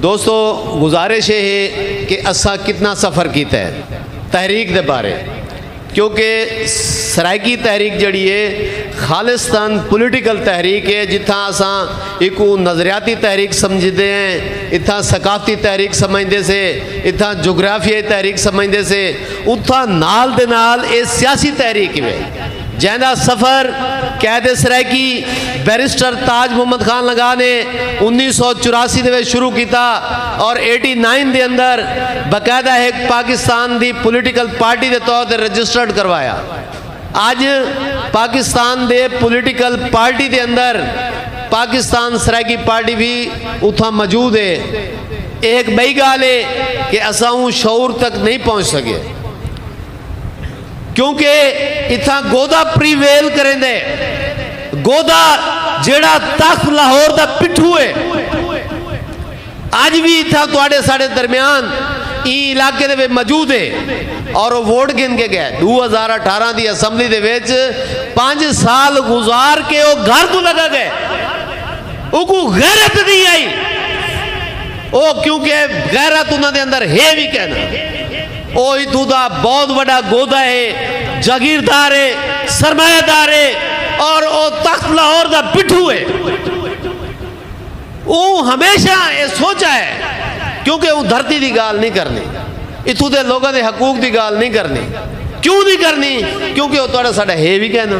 دوستو گزارش اے ہے کہ اساں کتنا سفر کیتا ہے تحریک دے بارے کیونکہ سرائیکی تحریک جیڑی اے خالصتن پولیٹیکل تحریک اے جتھاں اساں ایکوں نظریاتی تحریک سمجھدے ہیں اتھاں ثقافتی تحریک سمجھدے سے اتھاں جغرافیائی تحریک سمجھدے سے اتھاں نال دے نال اے سیاسی تحریک وے جیں دا سفر قید سرائیکی بیرسٹر تاج محمد خان لنگاہ نے انیس سو چوراسی دے وچ شروع کیتا اور ایٹی نائن دے اندر باقاعدہ ہک پاکستان دی پولیٹیکل پارٹی دے طور تے رجسٹرڈ کروایا۔ اج پاکستان دے پولیٹیکل پارٹی دے اندر پاکستان سرائیکی پارٹی وی اتھاں موجود ہے۔ ایہ ہک ٻئی ڳالھ ہے کہ اساں اوں شعور تک نئیں پہنچ سڳے۔ کیونکہ اتھاں گودا پریویل کریندے۔ گودا جیڑھا تخت لاہور دا پٹھو ہے۔ اج وی اتھاں تہاڈے ساڈے درمیان ایں علاقے دے وچ موجود ہے۔ اور او ووٹ گھن کے گئے۔ ݙو ہزار اٹھارہ دی اسمبلی دے وچ پنج سال گزار کے او گھر توں لڳا گئے۔ اوکوں غیرت نی آئی۔ او کیونکہ غیرت انہاں دے اندر ہے وی کینا۔ او اتھوں دا بہت وڈا گودا ہے، جاگیردار ہے، سرمایہ دار ہے اور او تخت لاہور دا پٹھو ہے۔ اوں ہمیشہ اے سوچا ہے کیونکہ اوں دھرتی دی گالھ نی کرنی، اتھوں دے لوگاں دے حقوق دی گالھ نی کرنی، کیوں نی کرنی کیونکہ او تہاڈا ساڈا ہے وی کائنا۔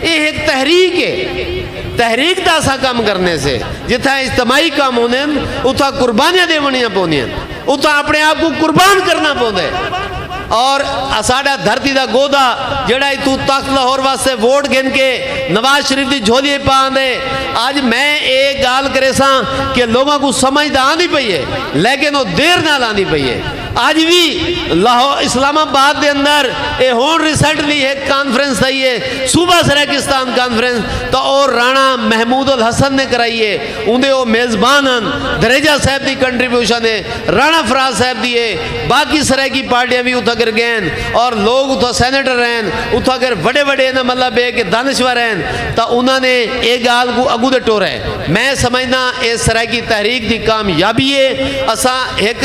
ایہ ہک تحریک ہے۔ تحریک دا اساں کم کرنے سے۔ جتھاں اجتماعی کم ہوندے ہن، اتھاں قربانیاں ݙیوݨیاں پوندیاں ہن۔ اتھاں اپݨے آپ کوں قربان کرݨا پوندا ہے۔ اور اساݙا دھرتی دا گودا جیڑھا اتھوں تخت لاہور واسطے ووٹ گھن کے نواز شریف دی جھولی اچ پا آندے۔ اڄ میں اے ڳالھ کریساں کہ لوکاں کوں سمجھ تاں آندی پئی ہے لیکن او دیر نال آندی پئی ہے۔ اج وی لاہور اسلام آباد دے اندر اے ہن ریسنٹلی ہک کانفرنس تھئی اے صوبہ سرائیکستان کانفرنس تاں او رانا محمود الحسن نے کرائی اے اوندے او میزبان ہن دھریجہ صاحب دی کنٹریبیوشن اے رانا فراز صاحب دی اے باقی سرائیکی پارٹیاں وی اتھاں کر گئین اور لوگ اتھاں سینیٹر ہن اتھاں کر وڈے وڈے انہاں مطلب اے کہ دانشور ہن تاں انہاں نے اے گال کو اگوں دے ٹورے میں سمجھداں اے سرائیکی تحریک دی کامیابی اے اساں ہک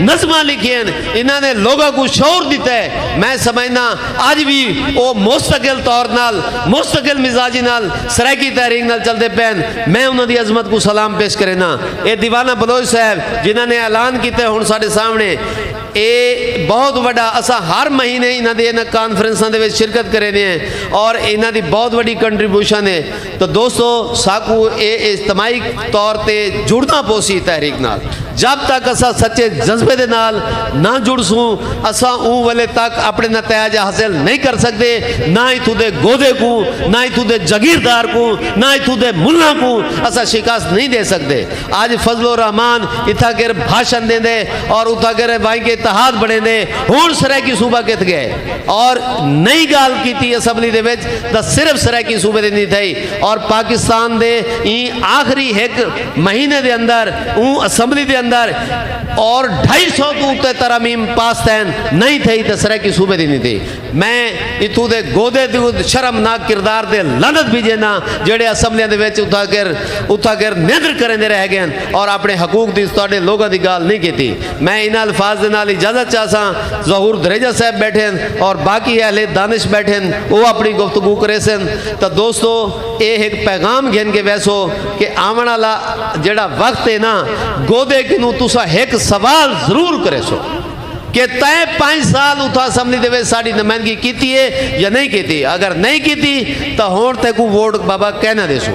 نظماں لکھین انہاں نے لوگاں کو شعور دیتا ہے میں سمجھنا آج بھی او مستقل طور نال مستقل مزاجی نال سرائیکی تحریک نال چل دے پین میں انہاں دی عظمت کو سلام پیش کرنا اے دیوانہ بلوج صاحب جنہاں نے اعلان کیتے ہون ساڑے سامنے اے بہت وڈا اسا ہر مہینے انہاں دے انہاں کانفرنساں دے ویچ شرکت کرے دے ہیں اور انہاں دی بہت وڈی کنٹریبوشن ہے تاں دوستو ساکوں اے اجتماعی طور تے جڑنا پوسی تحریک نال جب تک اساں سچے جذبے دے نال نہ جڑ سوں اساں اوں ولے تک اپنے نتائج حاصل نہیں کر سکدے نہ اتھوں دے گودے کوں نہ اتھوں دے جگیردار کوں نہ اتھوں دے ملاں کوں اساں شکست نہیں دے سکدے اج فضل الرحمان اتھاں گر بھاشن دیندے اور اتھاں گر وائیں کے اتحاد بڑھیندے ہن سرائیکی صوبہ کتھ گئے اور نئی گال کیتی اسمبلی دے وچ دا صرف سرائیکی صوبے دے اندی تھئی اور پاکستان دے این آخری ہک مہینے دے اندر اوں اسمبلی دے اندر اور ڈھائی سو تو اتے ترامیم پاس تین نئی تھئی تے سرائیکی صوبے دے اندی تھئی میں اتھو دے گودے دے شرم نا کردار دے لنت بھی جینا جڑے اسمبلی دے وچ اتھا کر اتھا کر نیدر کریں دے رہ گئے اور اپنے حقوق دی اس طرح لوگوں دی گال نہیں کیتی میں انہاں الفاظ دے نال اجازت چاہساں، ظہور دھریجہ صاحب بیٹھے ہن اور باقی اہل دانش بیٹھے ہن او اپنی گفتگو کریسن تاں دوستو اے ہک پیغام گھن کے ویسو کہ آون آلا جیڑھا وقت اے نا گودے کنوں تساں ہک سوال ضرور کریسو کہ تیں پنج سال اتھاں اسمبلی دے وچ ساڈی نمائندگی کیتی اے یا نہیں کیتی اگر نہیں کیتی تاں ہن تیکوں ووٹ بابا کینا دیسوں۔